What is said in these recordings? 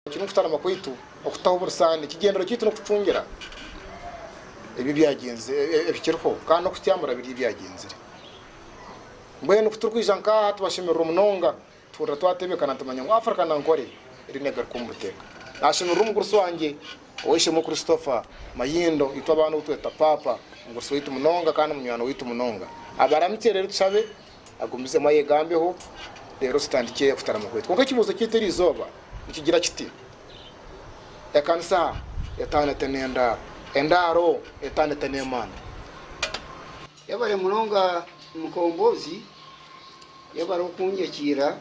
Kinu nikutaanama kwaitu okutaho oburusaani. Ekigenderero kyaitu n'okucungira ebi ebikiriho kandi n'okutyaamura biri ebyagyenzire. Mbwenu ku turikwija nk'aha tubashemererwa munonga tuhurira twatebeekana nitumanya ngu Africa na Ankole eri negaruka omu buteeka. Naashemererwa omugurusi wangye Oweishemewe Christopher Mayindo, itwe abaana ou tweta Paapa, omugurusi waitu munonga kandi munywani waitu munonga. Abaramukye reero tushabe Agumizemu ayegambeho, reero tutandikye kutarama kwaitu. Kwonka ekibuuzo kyaitu eri izooba nikigira kiti, Ekanisa etaano ete n'endaaro? Endaaro etaano ete n'emanda? Yebare munonga Mukombozi, yebare okunyakiira,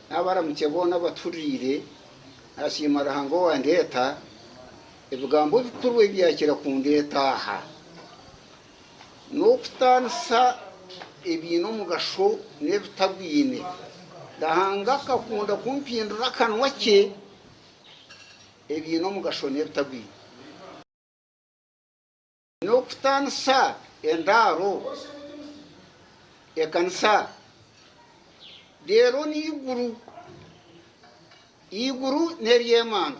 nabaramukye boona abatuhuririire, nasiima Ruhanga owandeeta, ebigambo ebikuru ebi yakira kundeeta aha. N'okutaanisa ebiine omugasho n'ebitagwine. Ruhanga akakunda ku mpindura akanwa kye ebiine omugasho n'ebitagwine. N'okutaanisa endaaro, ekanisa, reero n'eiguru, eiguru n'ery'emana.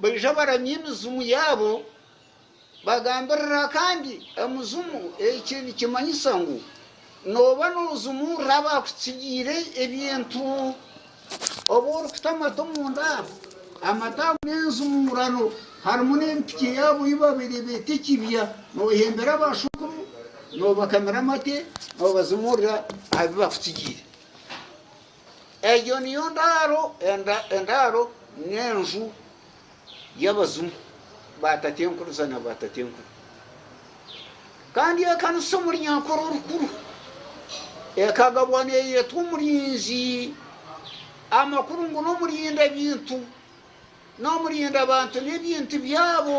baija baramya emizimu yaabo bagambirire akandi emizimu. Eki nikimanyisa ngu nooba noozimurira abaakutsigiire ebintu. Obu orikuta amate omu nda, amate ago n'enzimuurano harimu n'ebipiki yaabo ei baabaire beeta ekibya. Noohembera abaashukuru, noobakamira amate, noobazimuurira aha bi baakutsigiire. Egyo niyo ndaaro endaaro n'enju y'abazimu ba Tatenkuriza na ba Tatenkuru. Kandi ekanisa omuri Nyankore orukuru ekagabwa neyetwa omurinzi amakuru ngu n'omurinda bintu n'omurinda bantu n'ebintu byabo.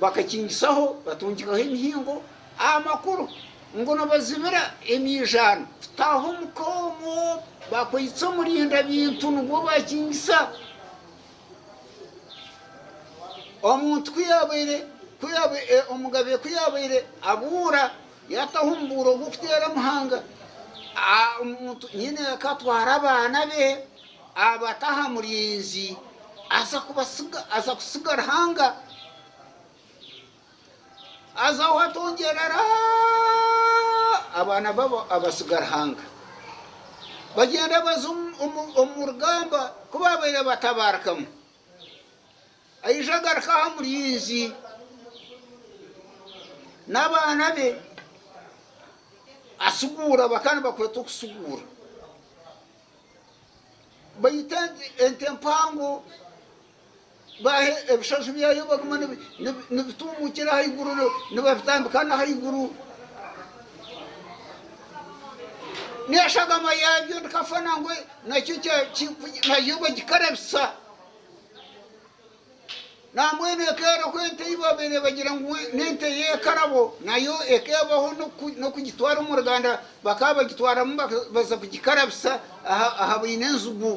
Bakakingisaho, batungikaho emihingo aha makuru ngu nibazibira emiijaano kutaaha omu ka omwo. Bakwaitse omurindabintu nibwo baakingisa. Omuntu ku yaabaire, ku yaabaire, omugabe ku yaabaire abuura, yaataho omubuuro gw'okuteera Muhanga, omuntu nyine ka atware abaana be. Abata aha murinzi aza kutsiga Ruhanga, aza ahu atongyerera abaana baabo abatsiga Ruhanga. Bagyenda baza omu rugamba ku baabaire batabaarikamu. Aija agaruka aha murinzi n'abaana be atsiguura, bakaba nibakwetwa okutsiguura. Baitu ente empango baaha ebishozi byayo baguma nibituumukira ahaiguru nibabitambika n'ahaiguru. N'eshagama yaabyo ndikafana ngu nakyo nayo bagikarabisa. Nambwenu ekeeroho ente ei baabaire nibagira ngu n'ente y'ekarabo, nayo ekeebaho n'okugitwara omu ruganda bakaba bagitwaramu baza kugikarabisa aha baine enzigu.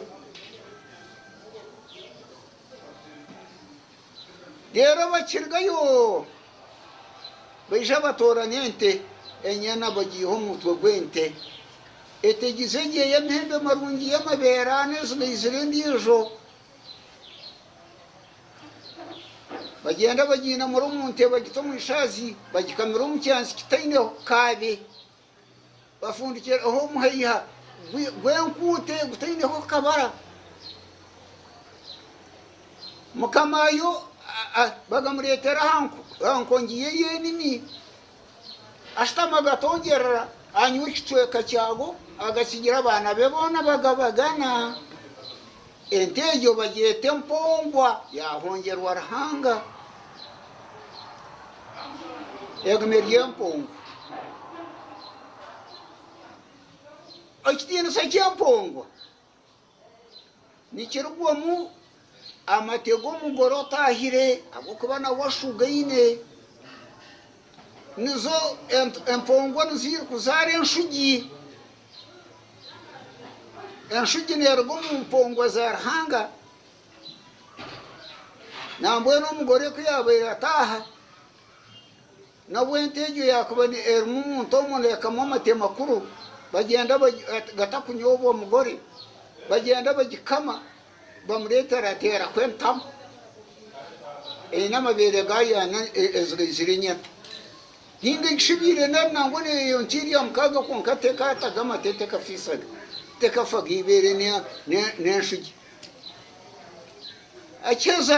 Reero bakirugayo baija batoora n'ente enyana bagiiha omu mutwe gw'ente etegize egyo ey'amahembe marungi y'amabeere ana ezibaizire endiijo Bagyenda bagiinamura omu nte bagita omu ishaazi, bagikamira omu kyanzi kitaineho kaabe, bafundikiraho omuhaiha gw'enkuute gutaineho kabara. Mukamaayo bakamureetera aha nkongi ye y'enimi. Ashutami agatogyerera, anywa ekicweka kyago, agakigira abaana be boona bagabagana. Ente egyo bagyeta empongwa, yaahongyerwa Ruhanga. Egyo neryo empongwa. Ekitiinisa ky'empongwa nikirugwamu amate g'omugore otaahire ahabw'okuba nawe ashugaine. Nizo empongwa nizo irikuzaara enshugi. Enshugi neeruga omu mpongwa za Ruhanga. Nambwenu omugore ku yaabaire ataaha. Nabwo ente egyo yaakuba erimu omuntu omwe neekamwa amate makuru, bagyenda gatakunyoobwa omugore, bagyenda bagikama, bamureetera ati eraho entamu eine amabeere gaayo ana ezigaizire enyata. Nainga shi ebaire nari nangwa neeyo nka erya mukaaga kwonka tekaataga amate, tekafiisaga, tekafaga eibaare n'enshugi. Akiheza.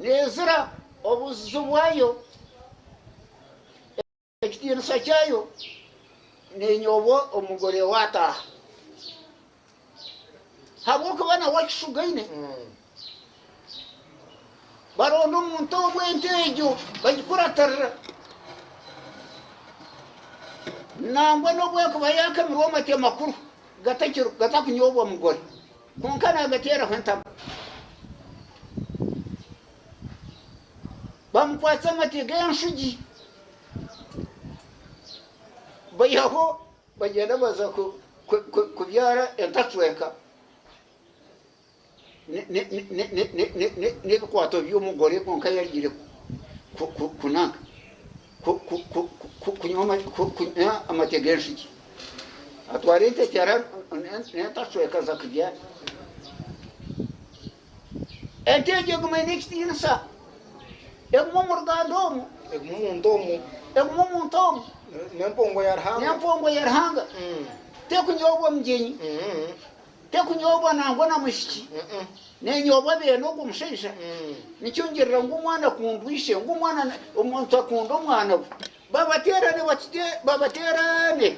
Neezira obuzizo bwayo, ekitiinisa kyayo, nenyoobwa omugore owaataaha. Habw'okuba nawe akishugaine, baronda omuntu owe ente egyo bagikuratirira. Nangwa n'obu ekuba yaakamirwe amate makuru gatakunyoobwa mugore. Kwonka naagateeraho entama. Baamukwatsa amate g'enshugi, baihaho bagyenda baza kubyara entacweka n'ebikwato by'omugore kwonka yarugiire kunaga. kunywa amate g'enshuki. Atwara entekyera n'entashwekaza kurya ente egyo eguma eine ekitiinisa, eguma omu ruganda omu, eguma omuntu omu, eguma omuntu omu, n'empungu ya Ruhanga, n'empungu ya Ruhanga, tekunyobwa mugyenyi. Tekunyoobwa nangwa na mwishiki, nenyoobwa beene ogwo mushaija. Nikyo ngirira ngu omwana akundwa ishe, ngu omwana omuntu akunda omwana we. Babateerane batute, babateerane,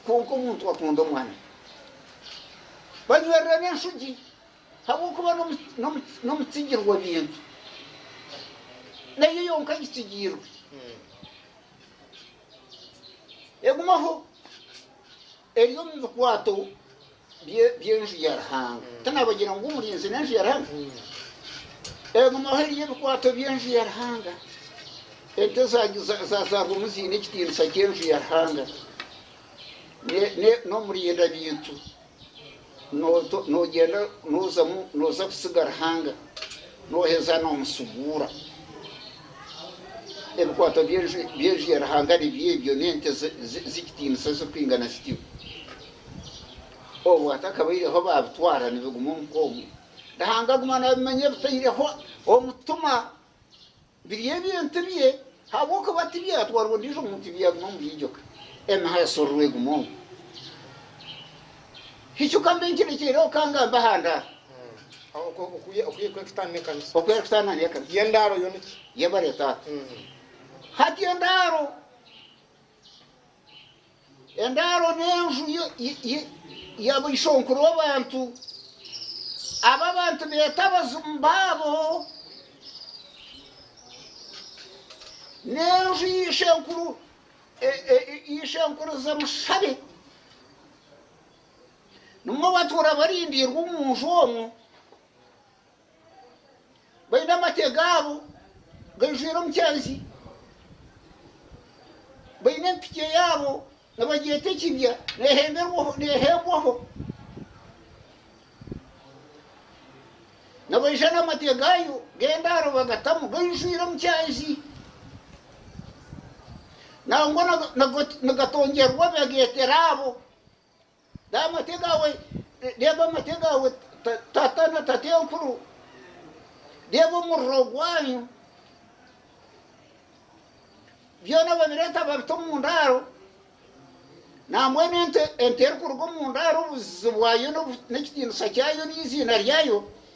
kwonka omuntu akunda omwana we. Banywerirane enshugi, habwokuba n'omutsigirwa bintu, nayo yonka agitsigiirwe. Egumaho. Eri omu bikwato by'enju ya Ruhanga. Tinaabagira ngu omurinzi n'enju ya Ruhanga? Egumaho eri ebikwato by'enju ya Ruhanga. Ente zaazaarwamu ziine ekitiinisa ky'enju ya Ruhanga n'omurinda bintu. Noogyenda noozamu nooza kutsiga Ruhanga nooheza noomushuguura. Ebikwato by'enju ya Ruhanga nibyo ebyo, n'ente z'ekitiinisa ezirikwingana zityo. Obu hatakabaireho baabitwara nibiguma omu nk'omu. Ruhanga aguma naabimanya bitaireho omutima. Biri ebintu bye ahabw'okuba tibyatwarwa ondiijo muntu byaguma omuri igye oka. Emiha ya Sorro eguma omu hicuka mbi nkirekyeireho ka ngambe aha ndaaro. Oku erikweekita ni ekanisa. Oku erikutaana ni ekanisa. Y'endaaro yo niki? Yebare taata. Hati endaaro Endaaro n'enju ya baishonkuru abantu, abu abantu beeta abazimu baabo, n'enju ya ishenkuru ishenkuriza mushabe, nimwo batuura barindirwe omu nju omwo. baine amate gaabo gaijwire omukyenzi, baine empitye yaabo nibagyeta ekibya neehembwaho, nibaija n'amate gaayo g'endaaro bagatamu gaijwire omukyenzi nangwa nigatongyerwa bagegyetera abo Reeba amate gaawe tata na tatenkuru, reeba omuriro gwanyu, byona babireeta babita omu ndaaro, nambwenu ente erikuruga omu ndaaro obuzizi bwayo n'ekitiinisa kyayo n'eiziina ryayo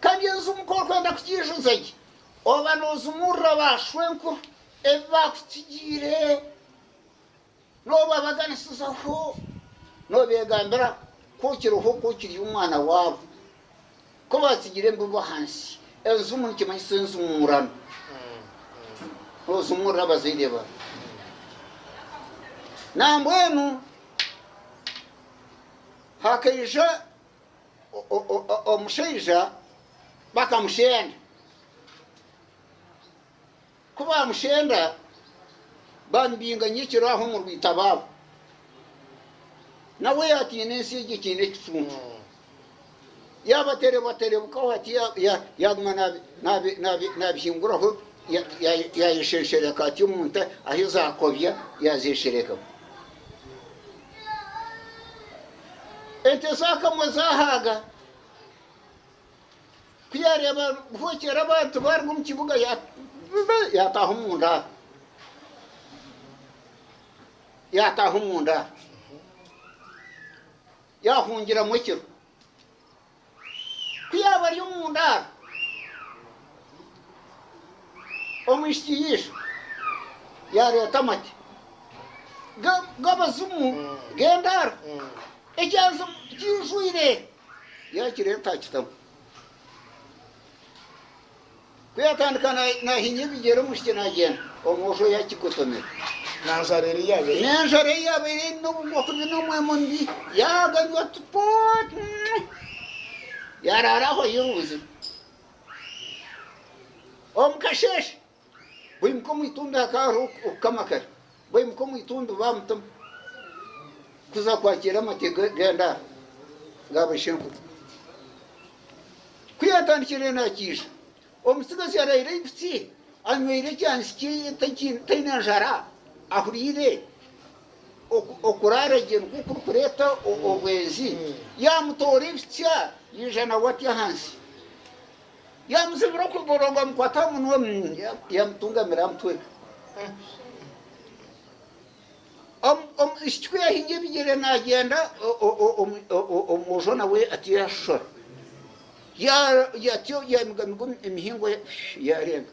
Kandi enju muka orikwenda kugiijuza gye, oba noozimurira baashwenkuru ebi baakutsigiire, noobabaganisizaho, noobeegambira ku okiriho, ku okiri omwana waabo, ku baatsigire embibo ahansi. Enjumu nikimanyisa enjumurano. Noozimurira abazaire baawe. Nambwenu hakaija omushaija bakamushenda. Ku baamushenda baamubinganya ekiro aho omu rwita baabo. Nawe yaatiina ensi egi etaine ekicuncu. Yaabaterebaterebukaho ati yaaguma naabihinguraho yaayesheeshereka ati omu nte ahu zaakobya yaazeesherekaho. Ente zaakamwa zaahaaga. Ku yaareeba buhookyera abantu baaruga omu kibuga yaataaha omu ndaaro. Yaataaha omu ndaaro. Yaahungiramu ekiro. Ku yaaba ari omu ndaaro, omwishiki yaija yaareeta amate g'abazimu g'endaaro, ekyanzi kijwire yaakireeta akitamu. Ku yaatandika naahinya ebigyere omwishiki naagyenda, omwojo oyo akikotomera. N'enjara ei yaabaire eine obugwa kubi n'omwema omubi, yaaganywa tupo tumwe, yaaraara aho ayiha obuzibu. Omu kasheeshe, baimuka omu itumbi hakaba hariho okukama kare. Baimuka omu itumbi bamutema kuza kwakiira amate g'endaara ga baishenkuru. Ku yaatandikire naakiija, omutsigazi araire aibutsi anyweire ekyansi kye taine njara ahuriire okuraara gye nikwo kurikureeta obwenzi. Yaamutoora ebitsya yaija nawe atya ahansi. Yaamuzibira okuguru ngu amukwate aha munwa, yaamutungamira aha mutwe. Omwishiki ku yaahingire ebigyere naagyenda, omwojo nawe atyo yaashoshora. Atyo yaamigamiga emihingo, yaarenga.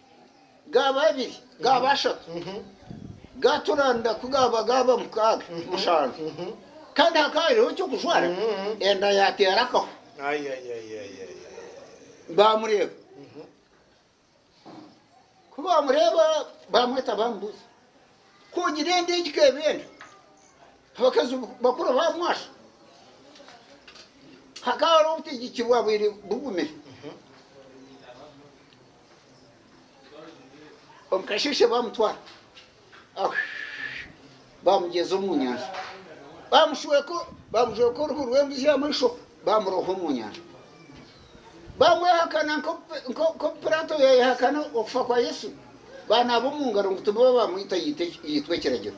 gaaba abiri, gaaba ashatu, gaatura nda ku gaaba gaaba mukaaga, mushanju, kandi hakaba hariho eky'okujwara, enda yaateera akaho. Baamureeba. Ku baamureeba baamweta baamubuuza, Ku ogira enda egi ka eba enda? Abakazi bakuru baamwasha. Hakaba hariho obutegyeki bwaabaire bugumire. Omukasheeshe baamutwara baamugyeza omu nyanja baamujweka oruhu rw'embuzi y'amaisho baamuroha omu nyanja baamwehakana nk'oku Piraato yaayehakana okufa kwa Yesu baanaaba omu ngaro ngu tibabaamwita yaitwa ekiragiro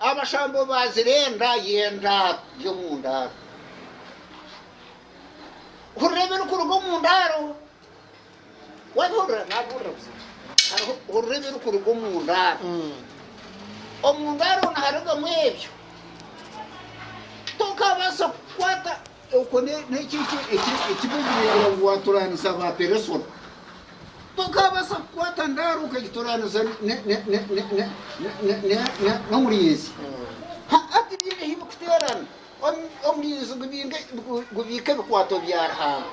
Abashambo baazirenda yenda by'omu ndaaro. Hurira ebirikuruga omu ndaaro. Waabihurira? Naabuurira buza. Hariho, hurira ebirikuruga omu ndaaro. Omu ndaaro niharugamu ebyo. Tokaabaasa kukwata Okwo n'ekyo ekirikureebera ngu waatoraanisa Abaaperesona. Tokaabaasa kukwata ndaaro okagitoraanisa n'omurinzi. Hati tibiine ahu birikuteerana. Omurinzi gubiika ebikwaato bya Ruhanga.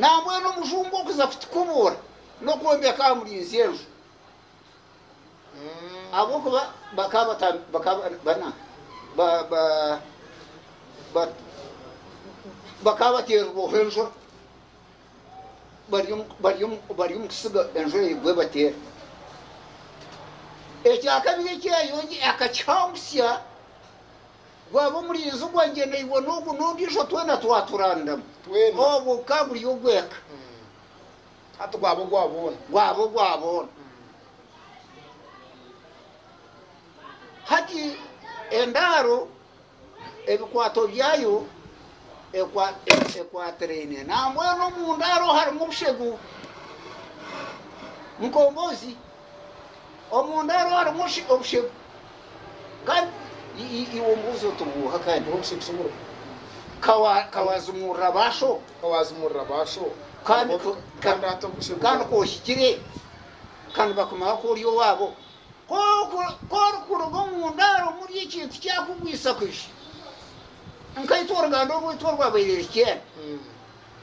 Nambwenu omujungu okuza kutukubuura n'okwombeka aha murinzi enju. ahabw'okuba bakaba bakaba bateererwaho enjura bari omu kutsiga enjura egwe ebateere. Ekyakabiri eki yayongyire akakihangutsya gwaba omurinzi gwangye naiwe n'ogu n'ondiijo twena twaturandamu, obwo bukaba buri ogw'eka. Hati gwaba ogwa boona. Gwaba ogwa boona. Hati endaaro ebikwaato byayo ekwatiraine nambwenu omu ndaaro harimu obushegu, mukombozi. Omunda hariho harimu obushegu kandi iwe ombuuza oti obuuha kandi tihaine bushegu obulimu. Ka waazimurira ba sho kandi ku ohikire ka nibakumanya ku ori owaabo. Ku orikuruga omunda harimu ori ekintu kyakugwisa kwija. Nkaitwe oruganda orwaitu orwabaire Rikyenda.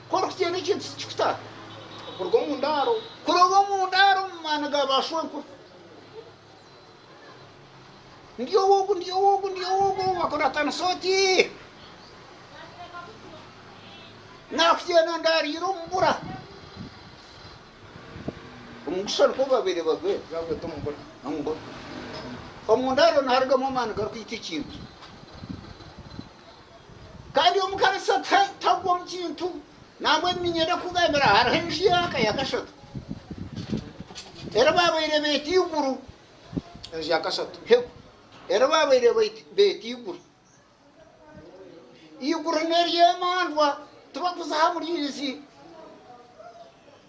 Ku orikugyenda ekintu tikikuta kuruga omu ndaaro. Kuruga omu ndaaro omu maani ga baashwenkuru. Ndi ou ogu, ndi ou ogu, ndi ou ogu, ou bakuratanisa oti. Naakugyenda ndaariire omu bura. Omugusha nikwo babaire bagwera, baagweta omu bura, omu bura. Omu ndaaro niharugamu amaani garikwita ekintu. Kandi omukarisa tagwa omu kintu, nambwenu niinyenda kukugambira hariho enju y'aka ya kashatu eri baabaire beeta Iguru. Enju ya kashatu hegwe eri baabaire beeta Iguru. Iguru n'ery'emandwa tibakuziha muriizi.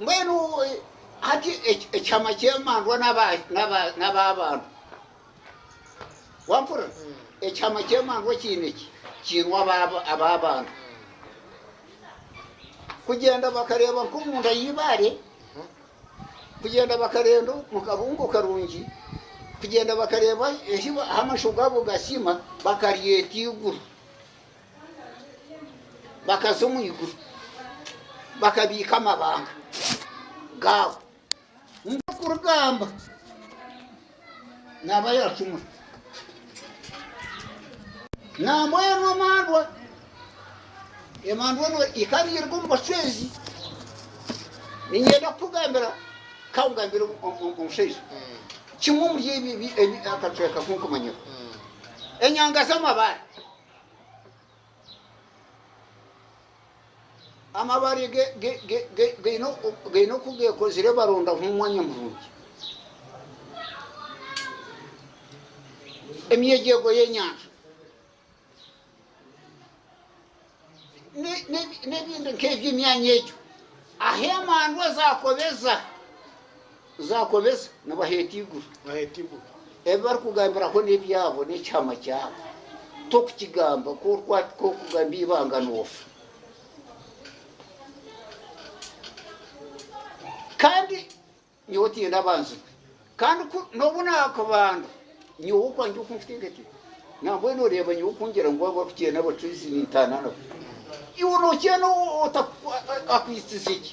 Mbwenu hati ekyama ky'emandwa n'ab'abantu. Wampurira? Ekyama ky'emandwa kiine ki? Kiine ab'abantu. Kugyenda bakareeba nk'omunda y'eibaare, kugyenda bakareeba omu kabungo karungi, kugyenda bakareeba ahu amasho gaabo gasiima, bakaryeta eiguru. bakaza omu iguru bakabiika amabanga gaabo nk'okurugamba naaba yaacumura nambwa enu emandwa emandwa enu ikabiirwa omu bacwezi ninyenda kukugambira kakugambira omushaija kimwe omuri ebi akacweka kunkumanyira enyanga z'amabaare Amabaare gaine oku geekozire barondaho omwanya murungi. Emyegyego y'enyanja n'ebindi nk'ebyo emyanya egyo ahu emandwa zaakoreza Zaakobesa nibaheeta eiguru. Ebi barikugambiraho n'ebyabo, n'ekihama kyabo. Tokukigamba, ku orikugamba eibanga noofa. Kandi nyowe tiinyenda abanzirwe. Kandi ku n'obu naakubanda, nyowe okwangye oku nkuteekateeka, nambwenu oreeba nyowe oku ngira ngu abo abakukyeenda bataizi nintaana nabo. Iwe nookyenda otaku, akwitize ki?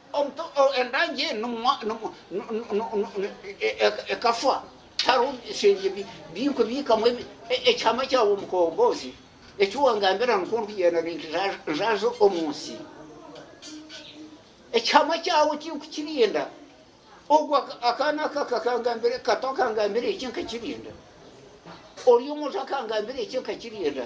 Endangi enu ekafa hariho ebishengye byayo biikamu ekyama kyawe omukombozi, eki wangambira nikwo ndikugyenda ninjaaza omu nsi. Ekyama kyawe tinkukirinda, ogwo akaana aka kato akangambira eki nkakirinda, ori omwojo akangambira eki nkakirinda.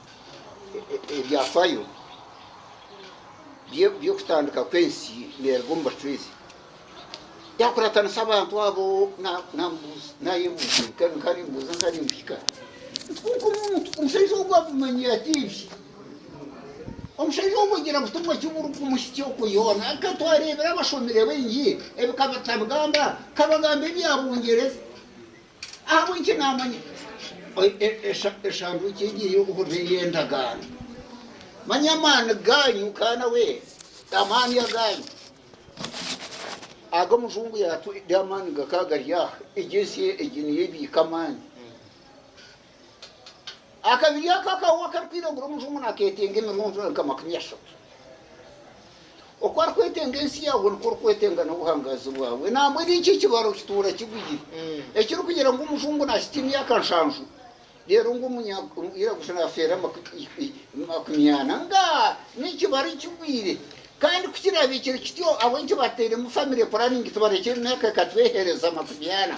Ebyafaayo by'okutandika kw'ensi neeruga omu bacwezi. Yaakuratanisa abantu abo omushaija ogwo abimanyire ati ebyo. Omushaija ogwo agira ngu timwe eki murikumuhitsya okwo yoona. Ka twareebire abashomire baingi ebi ka batabugamba, ka bagamba ebya Bungyereza. Ahabw'enki naamanya eshanduuki egi ey'obuhuriro ey'endagaano? Manya amaani gaanyu ka nawe, amaani agaanyu. Aga omujungu yaatwire amaani gakaba gari aha. Egi ensi egi niyo ebiika amaani. Akabiri ako akahoho akarikwiragura omujungu naketenga emirunzura nka makumi ashatu. Oku arikwetenga ensi yaawe nikwo orikwetenga n'obuhangazi bwawe. Nambwenu ekyo ekibaro kituura kigwire. Hmm. Ekirikugira ngu omujungu nakita emyaka nshanju reero ngu omunyiraguju nafeera makumi ana nga n'ekibaro ekigwire. Kandi ku kirabiikire kityo ahabw'enki batairemu famire puraningi tibarekire emyaka ekatwehereza makumi ana.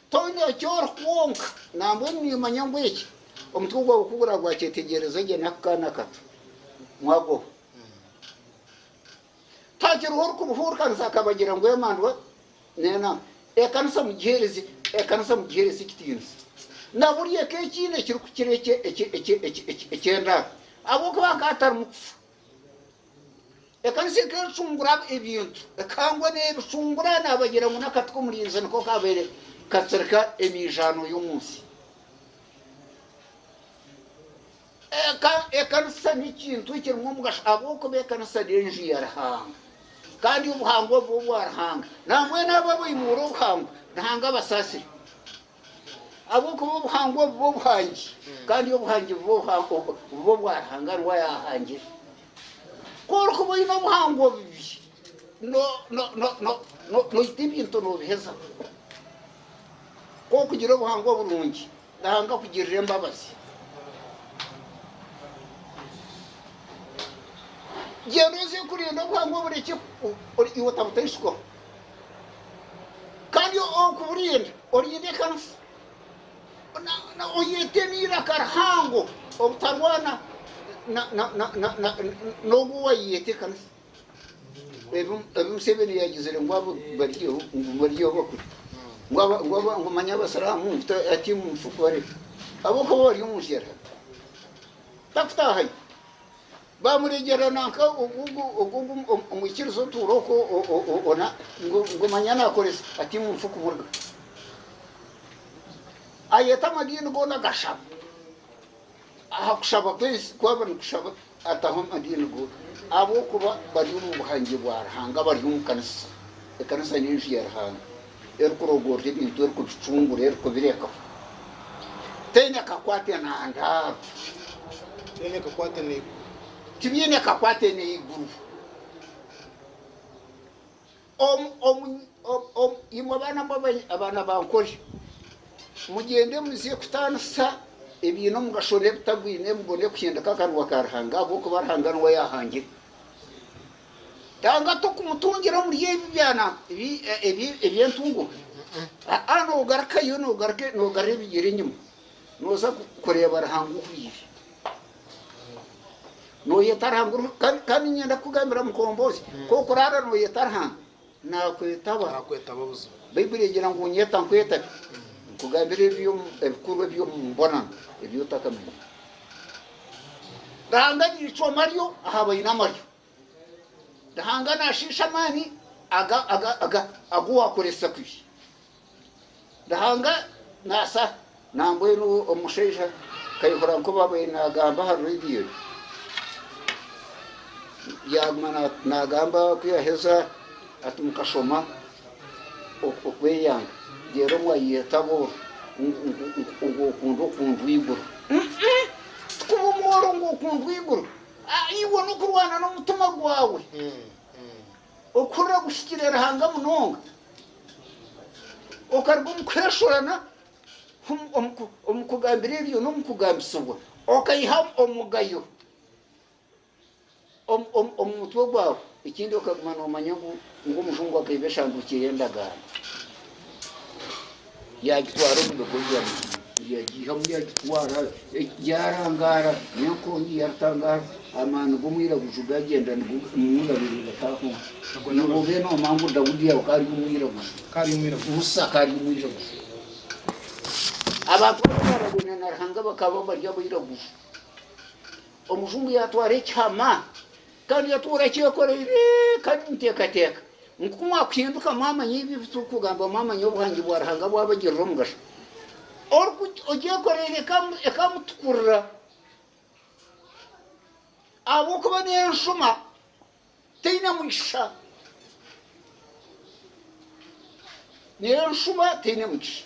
Tonywa eki ori kwonka, nambwenu nimanya ngu eki omutwe gwawe ku guraabe gwakyetegyereza gye n'aku kaana kato, mwagoba. Tihakiriho orikubuhuurikaniza akabagira ngu emandwa n'enaku. Ekanisa mugiheereze, ekanisa mugiheereze ekitiinisa. Na buri eka ekiine ekirikukira eky'endaaro, ahabw'okuba nka hatarimu kufa. Ekanisa ekecungura ebintu ekangwa n'ebicungura nabagira ngu n'akati k'omurinzi niko kabaire katsirika emiijaano y'omu nsi. Ekanisa n'ekintu ekirimu omugasho ahabw'okuba ekanisa n'enju ya Ruhanga kandi obuhangwa bwo bwa Ruhanga nambwenu abo abaimuura obuhangwa Ruhanga abasaasire. Ahabw'okuba obuhangwa obu bw'obuhangi, kandi obuhangi buba obwa Ruhanga ngu ayaahangire. Ku orikuba oine obuhangwa obubi, noita ebintu noobihezaho. Ku orikugira obuhangwa oburungi, Ruhanga akugirira embabazi. Gyenda oze kurinda obuhangwa oburekyeho, iwe otabutaisukwaho. Kandi orikuburinda orinde ekanisa, oyete n'eiraka rihango obutarwana n'ogu owayeyeta ekanisa. Ebi Museveni yagizire ngu abo bariyo ngu bariyo bakuri ngu manya abasiramu ngu ati omufuku bariho. Ahabw'okuba bari omu nshera takutahayo. Baamurengyerera nanka ogwo omwikiriza otuura okwo ona, ngu manya naakoresa ati ngu nfa kumurga. Ayeta amadiini goona agashaba. Aha kushaba kwe ensi ku baaba nikushaba ataho amadiini goona, ahabw'okuba bari omu buhangye bwa Ruhanga, bari omu kanisa. Ekanisa n'enju ya Ruhanga. erikurogoorora ebintu erikubicungura erikubirekaho teine kakwate na ndaaro tibiine kakwate n'eiguru imwe abaana ba nkori mugyende muze kutaanisa ebiine omugasho n'ebitagwine mubone kuhindika akanwa ka Ruhanga ahabw'okuba Ruhanga niwe yaahangire. Yanga tokumutungira omuri ebi byana eby'entunguka. Aa, nogarukayo nogarura ebigyere enyima noza kureeba Ruhanga oku biri. Noyeta Ruhanga kandi niinyenda kukugambira Mukombozi, nk'oku oraara noyeta Ruhanga, Naakwetaba. Baibuli egira ngu, Nyeta nkwetabye, nkugambire ebikuru eby'omu mbonano ebi otakamanya. Ruhanga agira eicwama ryo aha baine amaryo. Ruhanga naashiisha amaani agu waakoresa kubi. Ruhanga naasa na mbwenu omushaija nkayehura nkobabire nagamba aha radio yaguma nagamba kuyaheza ati mukashoma okweyanga reero mwayetaba oru ngu okundwa okundwa eiguru tikuba omworo ngu okundwa eiguru iwe nokurwana nomutima gwawe. Okuhurira kuhikire Ruhanga munonga okaruga omu kuheshorana omu kugambira ebyo n'omu kugambisibwa okaiha omugayo omu mutwe gwawe. Ekindi okaguma noomanya ngu Omujungu akaiba eshanduukye y'endagaano. Yaagitwara omu bigo bya Misiri, yaagiihamu yaagitwara. Yaarangaara, n'enkongi yaatangaara, amaani g'omwiraguju gaagyenda nigunabirira gataahunga. Nabwo mbwenu noomanya ngu Daudi yaawe ka ari omwiraguju, Musa ka ari omwiraguju. Abantu aba baarabwaine na Ruhanga bakaba bari abairaguju. Omujungu yaatwara ekihama Kandi itwe orakyekoreire, kandi niteekateeka ngu ku mwakuhinduka mwamanya ebi ebi turikugamba, mwamanya obuhangi bwa Ruhanga bwabagirira omugasho, oriku ogyekoreire ekamu ekamutukurira, ahabw'okuba n'enshuma teine mugisha, n'enshuma teine mugisha.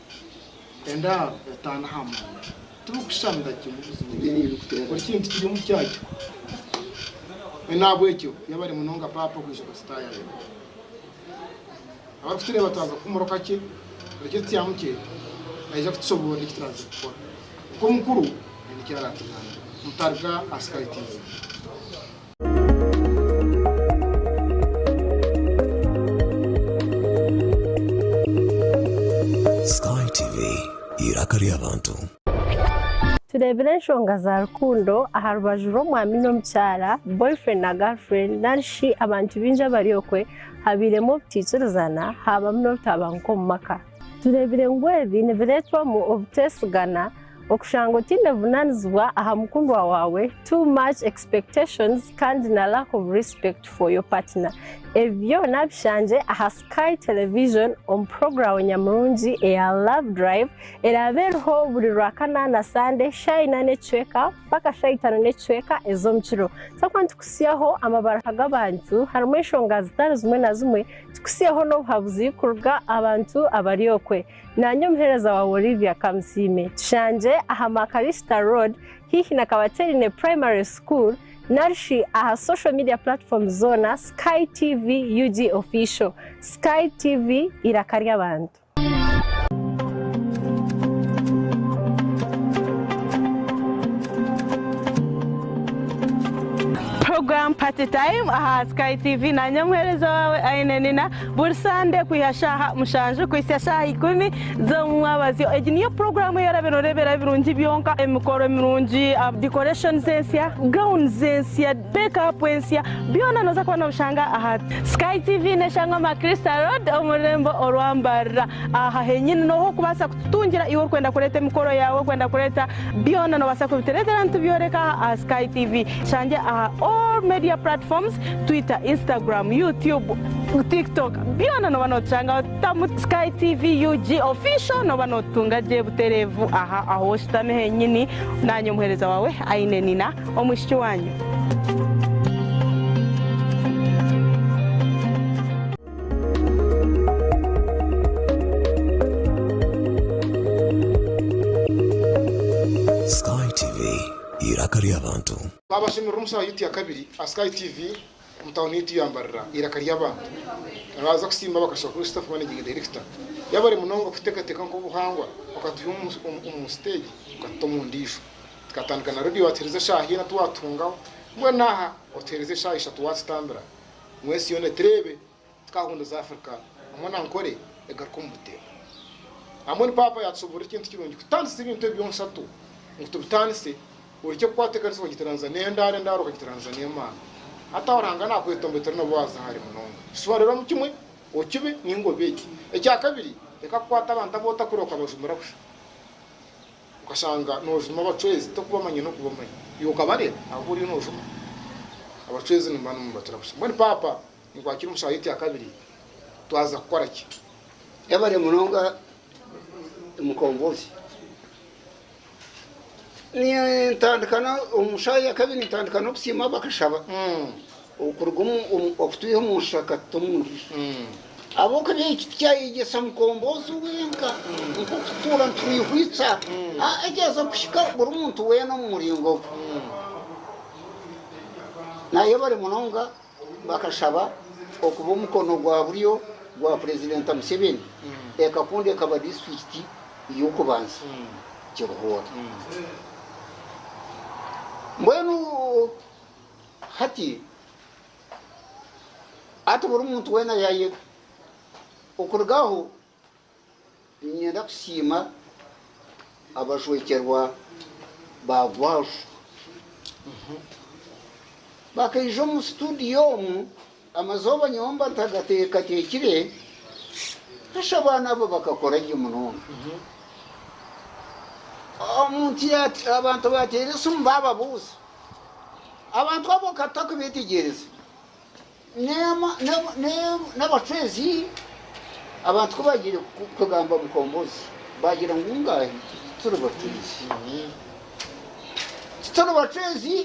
Endaaro etaano aha mwanya, tirikushushanira kimwe buzima buzima, buri kintu kiri omu kyakyo. Mbwenu n'ahabw'ekyo yaaba ari munonga paapa okwija kuzitaayaayira. Abarikutureeba twaza kuhumuraho kakye, buri ky'otutsyamu kye naija kutushoboorora eki turaaze kukora. Kwonka omukuru aine eki araatugaanire. Mutaarga asikaitiize. Tureebire enshonga za rukundo aha rubaju rw'omwami n'omukyara, boyfriend na girlfriend, nari shi abantu baingi abari okwe habairemu obutaikirizana, haabamu n'obutabanguko omu maka. Tureebire ngu ebi nibireetwamu obuteesigana Okushanga otaine buvunanizibwa aha mukundwa waawe, too much expectations kandi na lack of respect for your partner. Ebi byona bishangye aha Sky Television omu puroguramu nyamurungi eya Love Drive eraabe eriho buri Rwakana na Sande shaaha ina n'ekicweka mpaka shaaha itaano n'ekicweka ez'omu kiro. Tutakuba nitukutsyaho amabaruha g'abantu harimu enshonga zitari zimwe na zimwe, tukutsyeho n'obuhabuzi kuruga aha bantu abari okwe. Naanye omuheereza waawe Olivia Kamusiime tushangire aha Makarista Road haihi na Kabaterine Primary School nari shi aha social media platforms zoona Sky TV UG Official, Sky TV eiraka ry'abantu. Program Party Time aha Sky TV, naanye omuheereza waawe Aine Nina. Buri Sande kwiha shaaha mushanju kuhitsya shaaha ikumi z'omumwabazyo. Egi niyo puroguramu ei orabeire noreeberaho ebirungi byonka, emikoro emirungi, decorations ensya, gowns ensya, make up ensya, byona noza kuba nobishanga aha. Sky TV neshangwa Macrista Road omu rurembo orwa Mbarira. Aha henyini nohu orikubaasa kututungira iwe orikwenda kureeta emikoro yaawe, orikwenda kureeta byona nobaasa kubitureetera nitubyoreka aha aha Sky TV. Tushangye aha all media platforms. Twitter, Instagram, YouTube, TikTok byona nooba nootushangaho tamu Sky TV UG official nooba nootutunga gye butereevu aha ahu oshutami henyini naanye omuheereza waawe aine nina omwishiki waanyu. Twabashemerera omu shaaha yaitu ya kabiri aha Sky TV omu tauni yaitu ya Mbarara. Eiraka ry'abantu abaaza kusiima bakashuba kuri Staff Managing Director yabare munonga kuteekateeka nk'obuhangwa okatuhya omu siteegi okatuta omu ndiijo. Tukatandika na Radio waatuheereza eshaaha ina twatuhungaho mbwenu aha otuheereze eshaaha ishatu waatutambira ngu ensi yoona etureebe. Tukahunduza Africa hamwe na Ankole egaruka omu buteera. Hamwe ni Paapa yatusoborera ekintu kirungi kutandisa ebintu ebyo byoonsatu ngu tubitandise orekye kukwata ekanisa okagiteranisa n'endaaro, endaaro okagiteranisa n'Emana. Hati aho Ruhanga nakweta ombetere nabo waaza hare munonga. Shuba reero omu kimwe okibe ninga obe eki. Ekya kabiri reka kukwata abantu abu otakure okabajumira busha. Okashanga nojuma abacwezi tokubamanya nokubamanya. Iwe okabareeba abu oriyo nojuma? Abacwezi nimuba nimubacura busha. Mbwenu Paapa Nikwakira omu shaaha egi ya kabiri twaza kukora ki? Yebare munonga Mukombozi. Nintandika omu shaaha ya kabiri nintandika n'okusiima bakashaba okuruga okutwiha omu nshusha katuta omu ndijo. Ahabw'okuba eki tikyayegyesa Mukombozi wenka nk'okutuura nitwihwitsa, aa kyaza kuhika buri muntu weena omu muringo gwe. Nayebare munonga Bakashaba okuba omukono gwa buryo gwa Purezidenta Museveni, ekakunda ekaba disiturikiti y'okubanza Kiruhura. Mbwenu hati ati buri muntu weena yaayega okuruga aho. Niinyenda kusiima abajwekyerwa ba Gwajo bakaija omu situdiyo omu amazooba nyowe mba ntagatateekire, shi abaana abo bakakora gye munonga. Omuntu abantu baateera esimu baababuuza, abantu abo ka tutakubeetegyereze. N'abacwezi abantu ku baagiire kugamba Mukombozi baagira ngu ngaahi turi bacwezi. Tituri bacwezi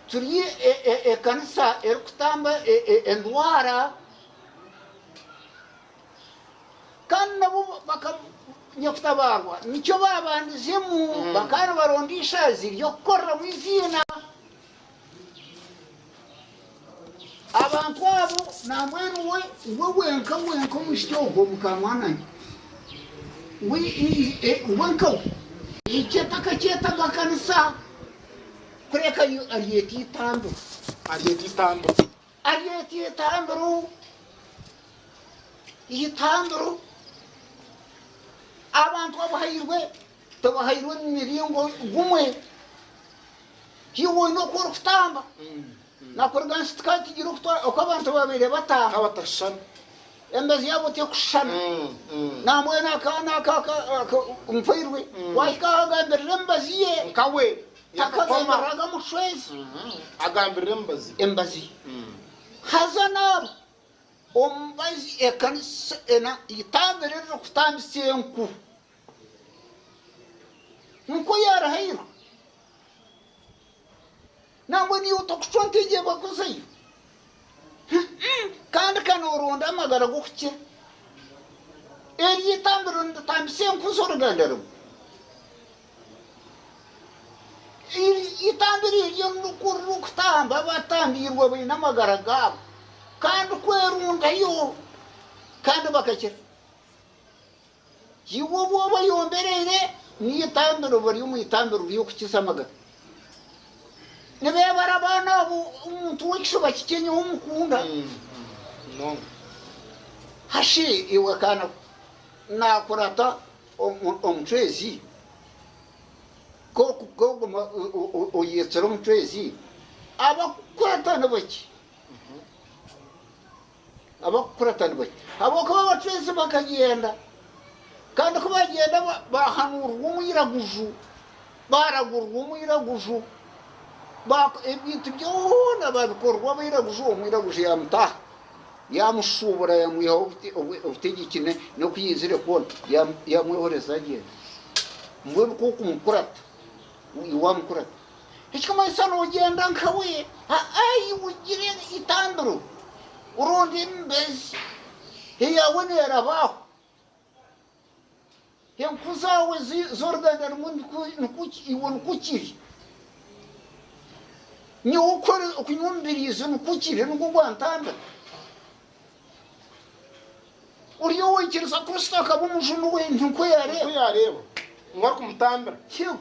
turi ekanisa erikutamba endwara kandi nabo Nyakutabaarwa nikyo baabandizeemu bakaba nibaronda eishaazi ry'okukoreramu eiziina. Abantu abo nambwenu we we wenka wenka omushiki ogwo mukamwananye we wenka we. Eki atakakyetaga kanisa kureka yo aryeta itambiro aryeta itambiro aryeta itambiro itambiro abantu abuhairwe. Tobahairwe omu miringo gumwe. Haihi oine oku orikutamba na kuruga nsi tikaatigire oku abantu baabaire batamba. Batashushana. Embezi yaabo tekushushana. Nambwenu akaana aka aka mpoirwe waahika ahu agambirira emibazi ye. Nkawe. Takagambiriraga mushwezi. Agambirira emibazi ye. Emibazi ye. Haza naaba omubazi ekanisa ena eitambire eririkutambisa enku. Nk'oku yaarahairwe, nangwa niiwe otakucwa nka egyo ebakuzaire, kandi ka nooronda amagara g'okukira eryo eitambiro niritambisa enku z'oruganda rumwe, eitambiro eryo nikwo ririkutamba abatambiirwe abaine amagara gaabo, kandi kwerundayo kandi bakakira. Iwe obu oba oyombereire n'eitambiro bari omu itambiro ry'okukiza amagara, nibeebara abaana abo omuntu w'ekishuba kikye nyowe omukunda munonga. Hashi iwe kaana ko naakurata omucwezi, k'okuguma oyetsire omucwezi, abakukweta nibakye. Abakukurata ni bake, ahabw'okuba abacwezi bakagyenda, kandi ku baagyenda baahanuurirwa omwiraguju, baaragurirwa omwiraguju, ebintu byona baabikorirwa abairaguju, omwiraguju yaamutaha, yaamushuubura yaamwihaho obutegyeki n'oku yaizire kwona, yaamwehoreza agyenda. Mbwenu ku orikumukurata, iwe waamukurata. Nikimanyisa noogyenda nkawe? Ai, wigire eitambiro oronde emibazi, eyaawe neeraba aho. Enkuru zaawe z'oruganda rumwe nikwo iwe nikwo kiri. Nyowe okunywa omubiriizi nikwo kiri nikwo gwantambira. Ori owaikiriza Kristo akaba omujuni we, ninkwo yaareeba. Ngu arikumutambira. Yego.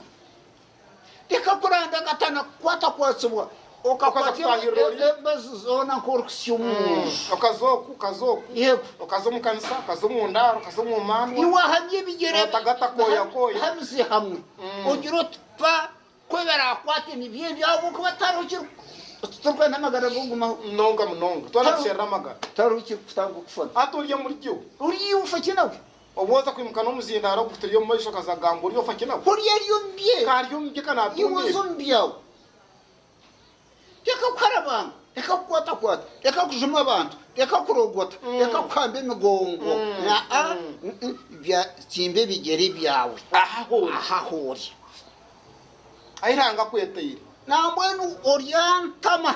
Leka kuranda akatana kukwatakwatsibwa, okakwata embazi zoona nk'orikutsya omu nju. Okaza oku, okaza oku. Yego. Okaza omu kanisa, okaza omu ndaaro, okaza omu mandwa. Niwahanya ebigyere Notagata kooya kooya. ha mizi hamwe. Ogira oti, Pa, ku ebiraakwate nibyo ebyo ahabw'okuba tihariho kiriku, titurikwenda amagara g'okugumaho. Munonga munonga. Twena tusherura amagara. Tihariho kirikutanga okufa. Hati ori omuri gyo. Ori iwe ofaki nawe? Obu oza kwimuka n'omuzindaaro ogu guturi omu maisho akaza kugamba ori ofa ki nawe? Ori ari omu bye. Ka ari omu bye ka naatunda ebi. Iwe oza omu byawe. Reka kuharabanga. Reka kukwatakwata. Reka kujuma abantu. Reka kurogota. Reka kuhamba emigongo. Aa, bya, tsimba ebigyere byawe. Aha hori. Aha hori. Ahi Ruhanga akwetaire. Nambwenu ori antama.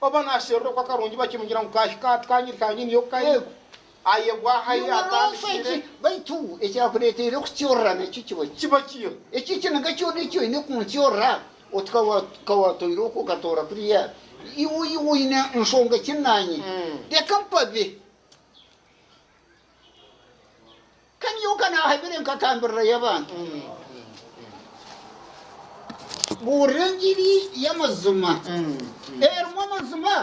Oba naasherura oku akarungi bakimugira ngu kaahika hati kaanyiri ka nyini yo kari, ayegwa aha ei atandikire. Baitu ekyakureeteire kukyorora nakyo kiba ki? Kiba kiha? Ekyo ekiniga kyona eki oine kunkyorora oti ka wa ka waatoire oku okatoora kuriya, iwe iwe oine nshonga ki naanye? Reka mpabe. Ka nyowe ka naahabire nkatambirira y'abantu buurira engiri y'amazima erimu amazima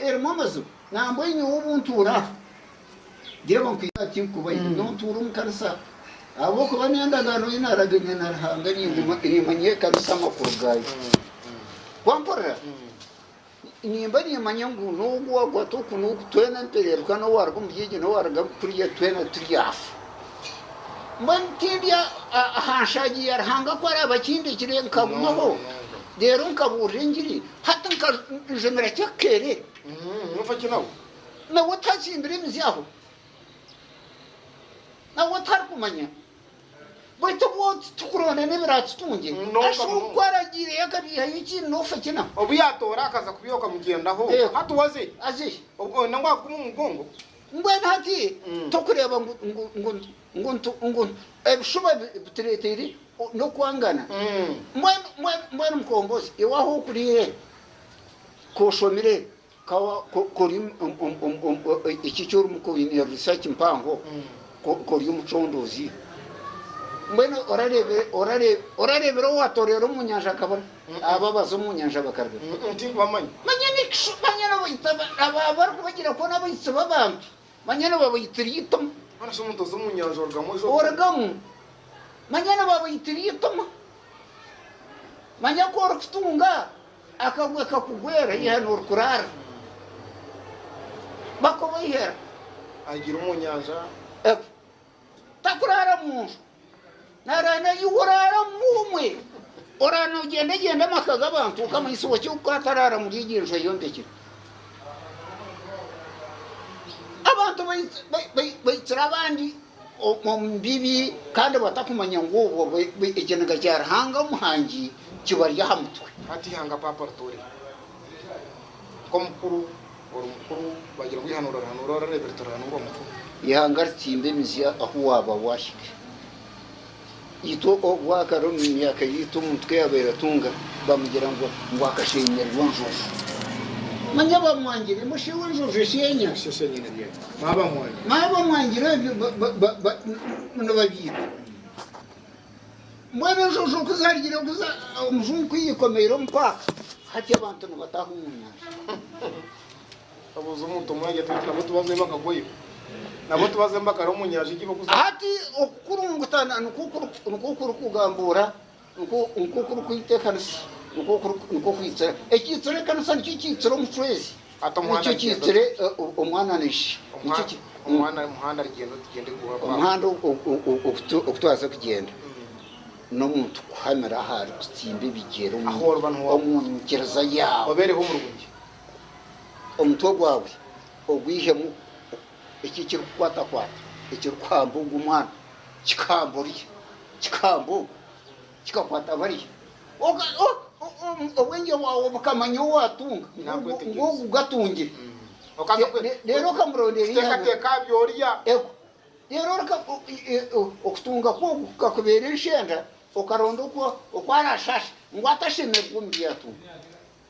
erimu amazima nambwa nyowe obu ntuura aha reeba nkwiha aha tinkukubaire nyowe ntuura omu kanisa ahabw'okuba niyo ndagaano ei naaragaine na Ruhanga nimanya ekanisa amakuru gaayo wampurira Nimba nimanya ngu n'ogu waakwata oku n'oku twena nitureebeka n'owaaruga omuri egyo n'owaaruga kuriya twena turi afa. Mbwenu tindi aha nshaagi ya Ruhanga ku araabe akindekire nkagumaho reero nkabuurira engiri hati nka njumira ky'akakeerere nawe otatsimbire emizi aho, nawe otarikumanya. Baitu obwo titukuronda n'ebiraatutungye, Ashuru nk'oku aragiire yakabiihayo ekiiri n'ofa ekina. Obu yaatoora akaza kubyoka mugyendaho, hati waze aze oine ngu agume omu mugongo. Mbwenu hati tokureeba ngu ebishuba bitureeteire n'okwangana? Mbwenu mukombozi, iwe ahu okuriire, ku oshomire. Ka ori eki eki orimu, ka oine risaaki mpango, ka ori omucondoozi, mbwenu orareebera owaatoreera omu nyanja akabona, abo abaza omu nyanja bakaribona? Manya n'ekishuba, manya n'abaita abo abarikubagira kuba n'abaitsi b'abantu, manya nibabaitira eituma. Orugamu, manya nibabaitira eituma. Manya ku orikutunga, Akagwe kakugwera yiha norikuraara bakoba ihera. Agira omu nyanja egwe takuraara mu nju naraara na iwe oraara mu umwe oraara nogyendegyenda amaka g'abantu okamanyisa owa ki ku ataraara muri egi enju ayombekire abantu baitsire abandi. omu bibi kandi batakumanya ngu obwo ekiniga kya Ruhanga Omuhangi kibari aha mutwe. Hati ihanga Paapa ritoorire nk'omukuru ori mukuru baagira ngu eihanuura orihanuura orareebire torihanuura omukuru. Ihanga ritsimba emizya ahu waaba waahikire. Itwe obu akari omu myaka yaitu omuntu ku yaabaire atunga baamugira ngu akasheenyera enjojo. Manya baamwangire, ngu shi iwe enjojo esheenya? Manya baamwangire ebyo nibabyita. Mbwenu enjojo ku zaarugire kuza omujungu ku yaikomeire omu paaka, hati abantu nibataha omu nyanja. Hati okukurungutana nikwo kurikugambuura, nikwo kurikwita ekanisa, nikwo kwitsira. Ekiitsire ekanisa nikyo kiitsire omucwezi, nikyo kiitsire omwana na ishe, omuhanda ogu twaza kugyenda n'omuntu kuhamira aha arikutsimba ebigyere omu nyikiriza yaawe. omutwe gwawe ogwihemu eki ekirikukwatakwata ekirikuhamba ogwo omwana kikahamba oriya kikahamba ogu kikakwata bariya Oka- o- o- o- obwengye bwawe bukamanya ou waatunga ngu- Naakwetegereza. ngu ogu gatungire Okaza kwe- Le- leero okamuronda eriya kuteekateeka aha by'orya Ego. Rero reka o- i- i- o- okutunga kwogu kukakubeera enshenda okaronda oku oku arashasha ngu atashemererwa omu byatunga.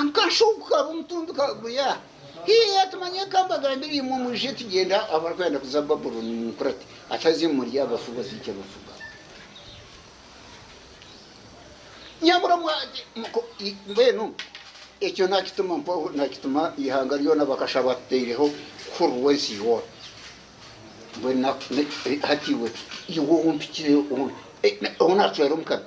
Akashuugu ka Omutumbi kagurya haihi ati, Manya eka mbagambire imwe, mwije tugyende ahu abarikwenda kuza Babulooni ninkura ati, Ataze murye abafu bazaija bafuga. Nyamuramwa ati, Muko, i, mbwenu ekyo naakituma mpaho, naakituma eihanga ryona bakasha batuteireho hururu w'ensi yoona. Mbwenu na, na, hati iwe, iwe ou mpikire, ou, eh, na- ou naacwera omu kanwa.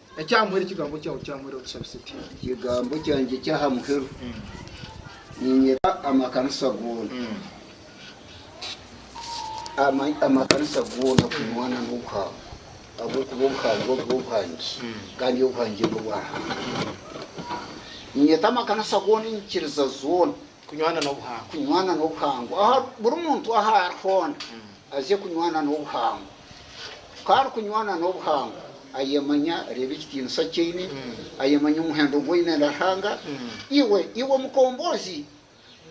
Eky'ahamuheru Ekigambo kyawe ky'ahamuheru otushabise tuti. Ekigambo kyangye eky'ahamuheru niinyeta amakanisa goona amakanisa goona kunywana n'obuhangwa ahabw'okuba obuhangwa obwo obwange kandi obuhangye n'obwa Ruhanga. Niinyeta amakanisa goona enyikiriza zoona. Kunywana n'obuhangwa. Kunywana n'obuhangwa. Aha buri muntu ahu ari hoona aze kunywana n'obuhangwa. Ku arikunywana n'obuhangwa, ayemanya, reeba ekitiinisa ki aine, ayemanya omuhendo ogu aine na Ruhanga. Iwe, iwe mukombozi,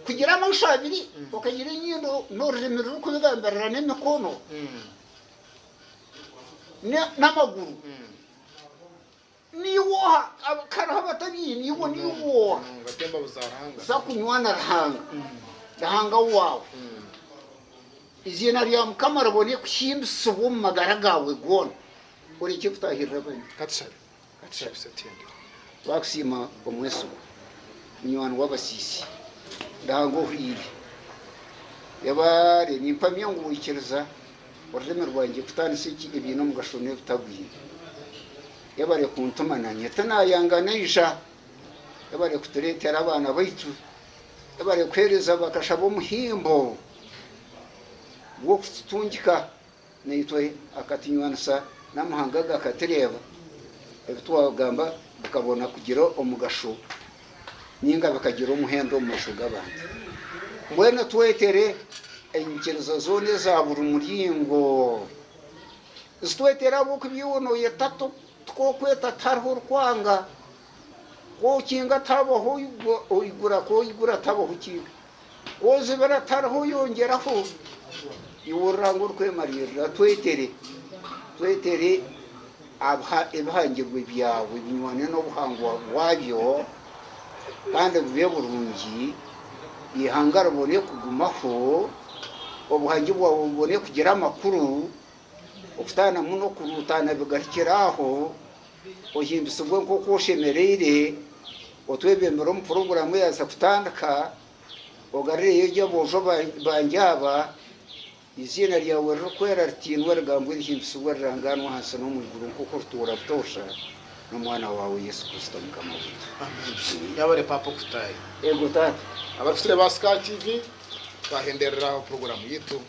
kugira amaisho abiri, okagira enyindo n'orurimi rurikubigambirira n'emikono n'amaguru. Niiwe oha kariho abatabiine iwe niiwe oha za kunywa na Ruhanga Ruhanga waawe eiziina rya Mukama ribone kuhimbisibwa omu magara gaawe goona orekye kutaahirira abandi Twakusiima omwesigwa munywani w'abasiisi Ruhanga ohwire yabaare nimpamya ngu waikiriza Orurimi rwangye kutandisa eki ebiine omugasho n'ebitagwine. Yebare kuntuma nanye tinayanga naija. Yebare kuturetera abaana baitu. Yebare kuhereza bakasha b'omuhimbo gw'okututungika naitwe akatunywanisa n'amahanga agakatureba ebitwagamba bikabona kugira omugasho. ninga bikagira omuhendo omu maisho g'abantu. Mbwenu twetere enyikiriza zoona eza buri muringo. Zitwetere ahabw'oku ebi iwe nooyeta tikwokweta tihariho orikwanga. Ku okinga tihabaho oigura, ku oigura tihabaho okinga. Ozibira tariho oyongyeraho, iwurira ngu orikwemariirira. Twetere, twetere aha ebihangirwe byawe binywane n'obuhangwa bwabyo kandi bube burungi, eihanga ribone kugumaho, obuhangi bwawe bubone kugira amakuru. Okutaanamu n'okuruutaana bigarukire aho, ohindutsibwe nk'oku oshemereire, otwebembere omu puroguraamu eyaahitsya kutandika, ogarureyo gye aboojo bangye aba, eiziina ryawe ririkwera ritiinwe, rigambwe rihindutsibwe rirangaanwe aha nsi n'omu iguru nk'oku orituura butoosha n'Omwana waawe Yesu Kristo Mukama waitu. Eego, Taata. Abarikutureeba aha Sky TV, twahenderera aha puroguraamu yaitu.